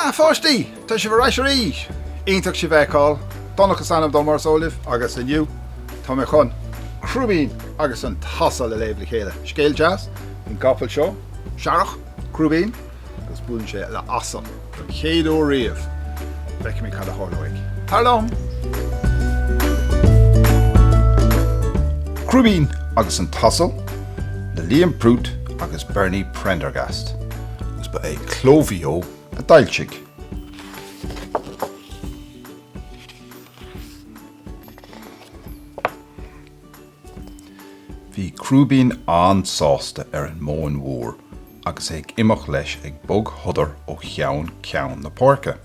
A pháistí! Tá sibh ar ais arís! Iontach sibh a fheiceáil! Donncha is ainm dom, mar is eol libh, agus inniu tá mé chun Crúibín agus an tAsal a léamh le chéile. Scéal deas faoin gcapall seo, searrach, Crúibín. agus buaileann sé le asal don chéad uair riamh. Feicfimid cad a tharlóidh. Tar liom! Crúibín agus an tAsal le Liam Prút agus Bernie Prendergast, agus ba é Cló Mhaigh Eo a d'fhoilsigh. Bhí Crúibín an-sásta ar an Móin Mhór agus é ag imeacht leis ag bogshodar ó cheann ceann na páirce.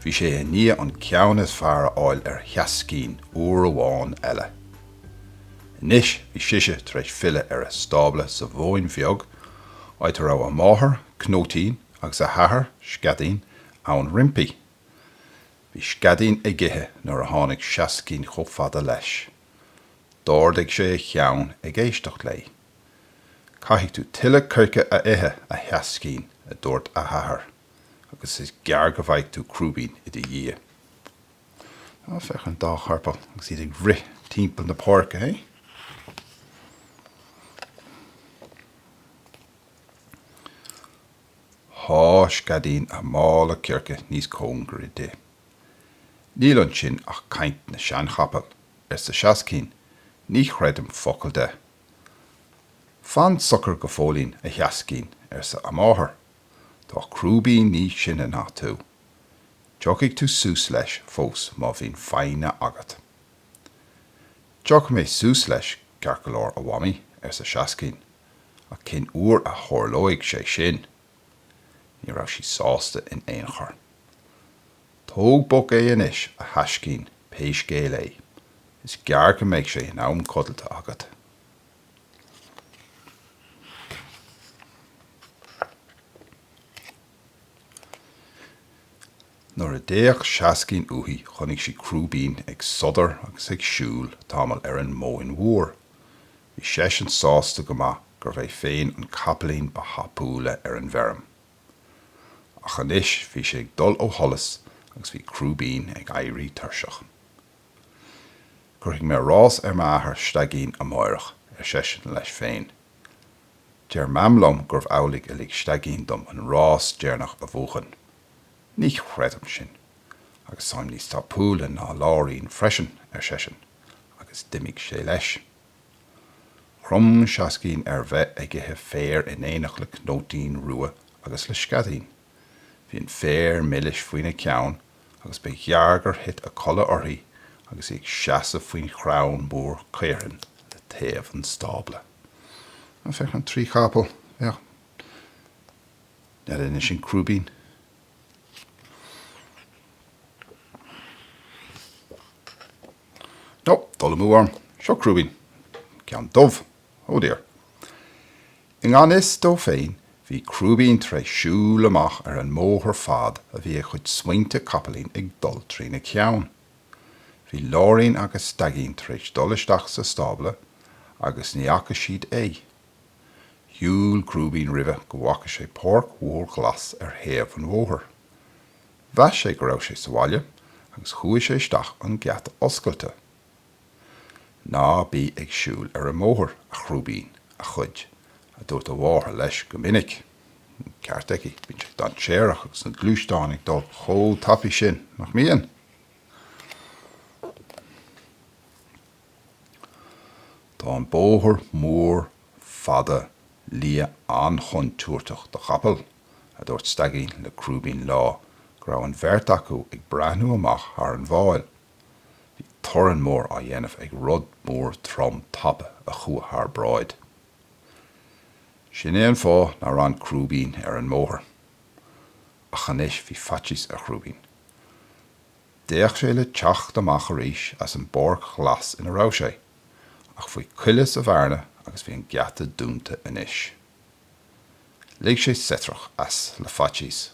Bhí sé i ndiaidh an ceann is fearr a fháil ar Sheaiscín uair amháin eile. Anois bhí sise tar éis filleadh ar a stábla sa Mhóin Bheag, áit a raibh a máthair, Cnóitín, agus a hathair, Sceadaín, ann roimpi. Bhí Sceadaín ag ithe nuair a tháinig Seaiscín chomh fada leis. D'ardaigh sé a cheann ag éisteacht léi. Caithfidh tú tuilleadh coirce a ithe, a Sheaiscín, a dúirt a hathair, agus is gearr go bhfágfaidh tú Crúibín i do dhiaidh. Ná féach ar an dá chapall agus iad ag rith timpeall na páirce, hé? Sháith Sceadaín a mála coirce níos cóngaraí di. Níl ansin ach caint na seanchapall, arsa Seaiscín, ní chreidim focal de. Fan socair go fóillín, a Sheaiscín, arsa a máthair, tá Crúibín níos sine ná tú. Tiocfaidh tú suas leis fós má bhíonn foighne agat. Tiocfaidh mé suas leis ceart go leor, a Mhamaí, arsa Seaiscín, ach cén uair a tharlóidh sé sin? Ní raibh sí sásta in aon chor. Tóg bog é anois, a thaiscín, pé scéal é. Is gearr go mbeidh sé in am codlata agat. Nuair a d'fhéach Seaiscín uaithi chonaic sí Crúibín ag sodar agus ag siúl tamall ar an Móin Mhór. Bhí seisean sásta go maith gurbh é féin an capaillín ba thapúla ar an bhfeirm. Ach anois bhí sé ag dul ó sholas agus bhí Crúibín ag éirí tuirseach. Cuirfidh mé rás ar m'athair Staigín amáireach, ar seisean leis féin. Deir Mam liom gurbh amhlaidh a lig Staigín dom an rás deireanach a bhuachan. Ní chreidim sin. Agus táim níos tapúla ná Láirín freisin, ar seisean, agus d'imigh sé leis. Chrom Seaiscín ar bheith ag ithe féir in éineacht le Cnóitín Rua agus le Sceaidín. Bhí an féar milis faoina ceann agus ba ghearr gur thit a codladh uirthi agus í ag seasamh faoin chrann mór caorthainn le taobh an stábla. Á, féach an trí chapall, yeah. N'fheadar an é sin Crúibín. No, dul amú orm, seo Crúibín, ceann dubh, oh dear. I ngan fhios dó féin, bhí Crúibín tar éis siúl amach ar an mbóthar fad a bhí a chuid smaointe capaillín ag dul trína cheann. Bhí Láirín agus Staigín tar éis dul isteach sa stábla agus ní fhaca siad é. Shiúil Crúibín roimhe go bhfaca sé páirc mhór ghlas ar thaobh an bhóthair. Mheas sé go raibh sé sa bhaile agus chuaigh sé isteach an geata oscailte. Ná bí ag siúl ar an mbóthar, a Chrúibín, a chuid, a dúirt a mháthair leis go minic. Ceart aici, bíonn sé dainséarach agus na gluaisteáin ag dul chomh tapaidh sin, nach mbíonn? Tá an bóthar mór fada liath an-chontúirteach do chapaill, a dúirt Staigín le Crúibín lá go raibh an bheirt acu ag breathnú amach thar an bhfál. Bhí torann mór á dhéanamh ag rud mór trom tapa a chuaigh thar bráid. Sin é an fáth nár fhan Crúibín ar an mbóthar. Ach anois bhí faitíos ar Chrúibín. D'fhéach sé le teacht amach arís as an bpáirc ghlas ina raibh sé, ach bhí cuaille sa bhearna agus bhí an geata dúnta anois. Lig sé seitreach as le faitíos.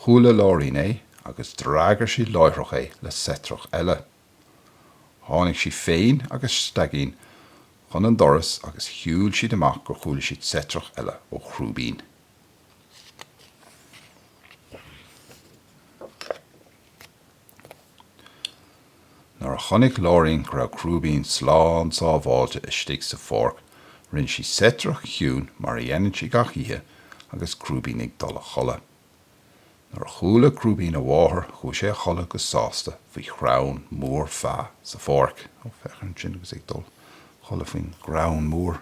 Chuala Láirín é agus d'fhreagair sí láithreach é le seitreach eile. Tháinig sí féin agus Staigín chun an doras agus shiúil siad amach gur chuala siad seitreach eile ó Chrúibín. Nuair a chonaic Láirín go raibh Crúibín slán sábháilte istigh sa pháirc, rinne sí seitreach chiúin mar a dhéanann sí gach oíche agus Crúibín ag dul a chodladh. Nuair a chuala Crúibín a mháthair chuaigh sé a chodladh go sásta faoi chrann mór feá sa pháirc. Ó, féach air ansin agus é ag dul a chodladh faoin gcrann mór.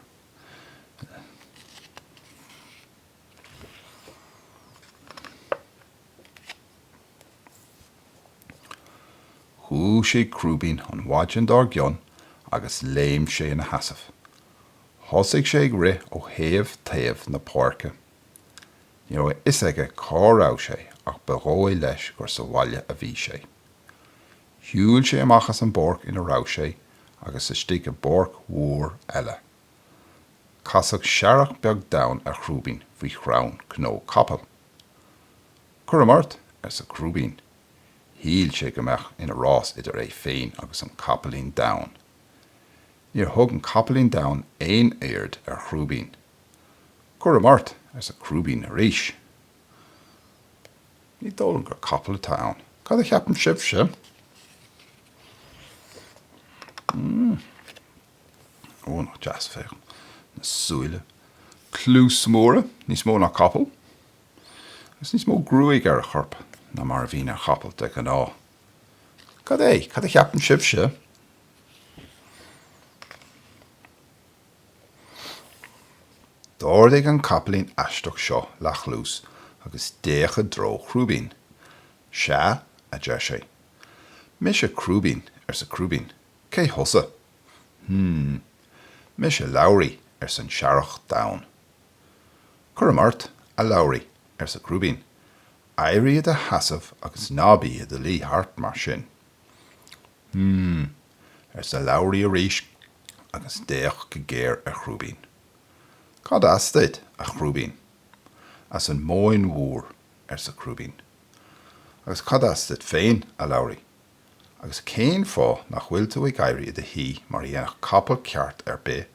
Dhúisigh Crúibín an mhaidin dár gcionn agus léim sé ina sheasamh. Thosaigh sé ag rith ó thaobh taobh na páirce. Ní raibh a fhios aige cá raibh sé ach ba dhóigh leis gur sa bhaile a bhí sé. Shiúil sé amach as an bpáirc ina raibh sé agus isteach i bpáirc mhór eile. Casadh searrach beag donn ar Chrúibín faoi chrann cnó capaill. Cuirim ort, arsa Crúibín. Shíl sé go mbeadh ina rás idir é féin agus an capaillín donn. Níor thug an capaillín donn aon aird ar Chrúibín. Cuirim ort, arsa Crúibín arís. Ní dóigh liom gur capall atá ann. Cad a cheapann sibhse? Hmm. Ó, nach deas féach na súile. Cluasa móra, níos mó ná capaill. Agus níos mó gruaige ar a chorp ná mar a bhíonn ar chapall de ghnáth. Cad é? Cad a cheapann sibhse? D'ardaigh an capaillín aisteach seo leathchluas agus d'fhéach i dtreo Chrúibín. Sea, a deir sé. Mise Crúibín, arsa Crúibín. Cé thusa? Hm. Mise Labhraidh, arsa an searrach donn. Cuirim ort, a Labhraidh, arsa Crúibín, éirigh i do sheasamh agus ná bí i do luí thart mar sin. Hm. arsa Labhraidh arís agus d'fhéach go géar ar Chrúibín. Cad as duit, a Chrúibín? As an Móin Mhór, arsa Crúibín. Agus cad as duit féin, a Labhraidh? Agus cén fáth nach bhfuil tú ag éirí i do shuí mar a dhéanfadh capall ceart ar bith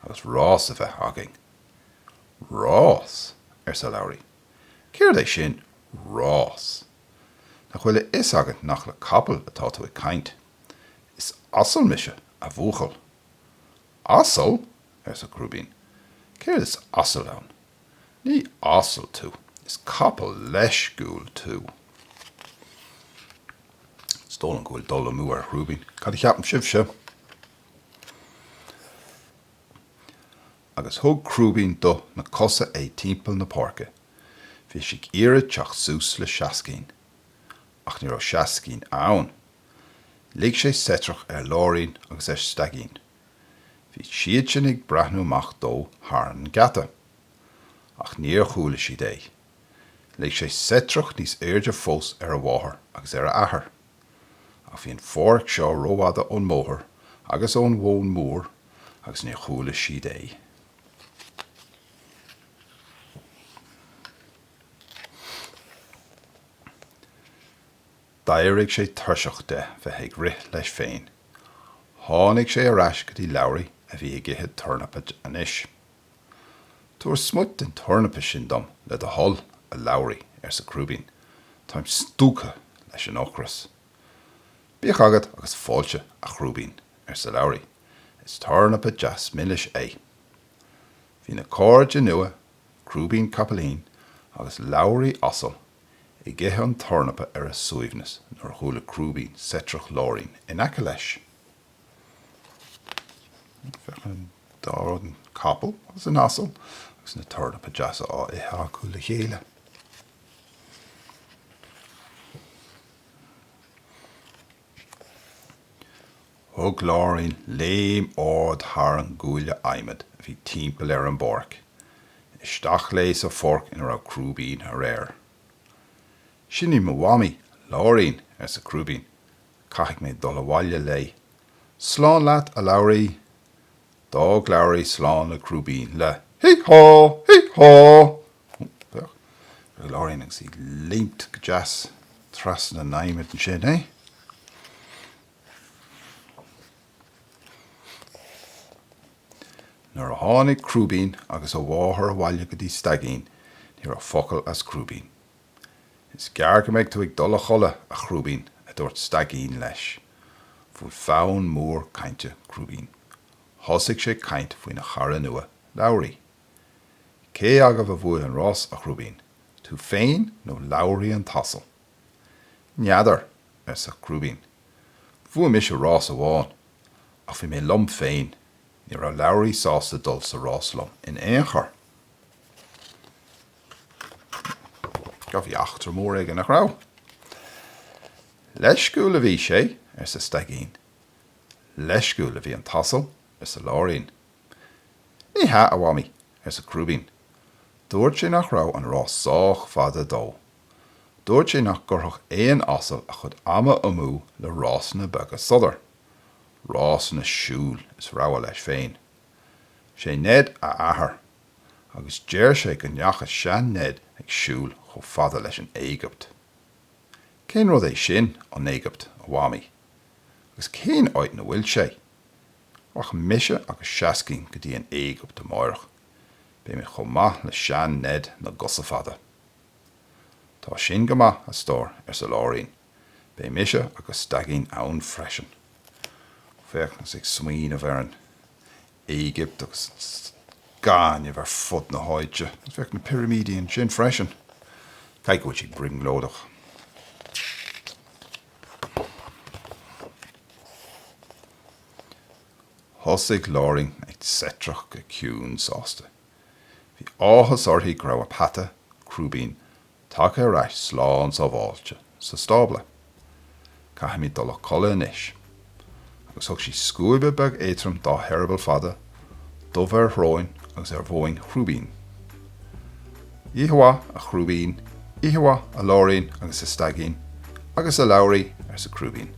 agus rás a bheith againn? Rás! arsa Labhraidh. Céard é sin, rás? Nach bhfuil a fhios agat nach le capall atá tú ag caint? Is asal mise, a bhuachaill. Asal? arsa Crúibín. Céard is asail ann? Ní asal tú, is capall leisciúil tú. Is dóigh liom go bhfuil dul amú ar Chrúibín. Cad a cheapann sibhse? Agus thug Crúibín do na cosa é timpeall na páirce. Bhí sé ag iarraidh teacht suas le Seascainn, ach ní raibh Seascainn ann. Lig sé seitreach ar Láirín agus ar Staigín. Bhí siadsan ag breathnú amach fós thar an gheata. Ach níor chuala siad é. Lig sé seitreach níos airde fós ar a mháthair agus ar a athair. Ach bhí an pháirc seo rófhada ón mbóthar agus ón Mhóin Mhór agus níor chuala siad é. D'éirigh sé tuirseach de bheith ag rith leis féin. Tháinig sé ar ais go dtí Labhraí a bhí ag ithe tornapaí anois. Tabhair smut den tornapa sin dom, le do thoil, a Labhraí, arsa Crúibín. Táim stiúgtha leis an ocras. Bíodh agat agus fáilte, a Chrúibín, arsa Labhraí. Is tornapa deas milis é. Bhí na cairde nua, Crúibín Capaillín agus Labhraí Asal, ag ithe an tornapa ar a suaimhneas nuair a chuala Crúibín seitreach Láirín in aice leis. Féach an dá capall agus an asal agus na tornapaí deasa á ithe acu le chéile. Thug Láirín léim ard thar an gcuaille adhmaid a bhí timpeall ar an bpáirc. Isteach léi sa pháirc ina raibh Crúibín aréir. Sin í mo mhamaí, Láirín, arsa Crúibín. Caithfidh mé dul abhaile léi. Slán leat, a Labhraí! D'fhág Labhraí slán le Crúibín le Hee-haw! Hee-haw! Féach ar Láirín agus í ag léimt go deas trasna an adhmaid. ansin, é. Nuair a tháinig Crúibín agus a mháthair abhaile go dtí Staigín, ní raibh focal as Crúibín. Is gearr go mbeidh tú ag dul a chodladh, a Chrúibín, a dúirt Staigín leis. Bhuail fonn mór cainte Crúibín. Thosaigh sé ag caint faoina chara nua, Labhraí. Cé agaibh a bhuaigh an rás, a Chrúibín, tú féin nó Labhraí an t-asal? N'fheadar, arsa Crúibín. Bhuaigh mise rás amháin, ach bhí mé liom féin, ní raibh Labhraí sásta dul sa rás liom in aon chor. Sea, bhí eachtra mór aige, nach raibh? Leisciúil a bhí sé, arsa Staigín. Leisciúil a bhí an t-asal, arsa Láirín. Ní hea, a Mhamaí, arsa Crúibín. Dúirt sé nach raibh an rás sách fada dó. Dúirt sé nach gcuirfeadh aon asal a chuid ama amú le rásanna beaga sodair. Rásanna siúil is rogha leis féin. 'Sé Ned a athair, agus deir sé go ndeacha sean-Ned ag siúl chomh fada leis an Éigipt. Cén rud é sin, an Éigipt, a Mhamaí? Agus cén áit 'na bhfuil sé? Rachaidh mise agus Seascainn go dtí an Éigipt amáireach. Beimid chomh maith le sean-Ned na gcosa fada. Tá sin go maith, a stór, arsa Láirín, beidh mise agus Staigín ann freisin. Féach anois ag smaoineamh ar an Éigipt agus an gaineamh ar fud na háite, anois féach na pirimidí ansin freisin, caithfidh go bhfuil siad ag brionglóideach. Thosaigh Láirín ag seitreach go ciúin sásta. Bhí áthas uirthi go raibh a peata, Crúibín, tagtha ar ais slán sábháilte sa stábla. Caithfimid dul a codladh anois. Agus thug sí scuaib bheag éadtrom dá heireaball fada, dubh ar dhroim agus ar thóin Chrúibín. Oíche mhaith, a Chrúibín, oíche mhaith, a Láirín agus a Staigín agus a Labhraí, arsa Crúibín.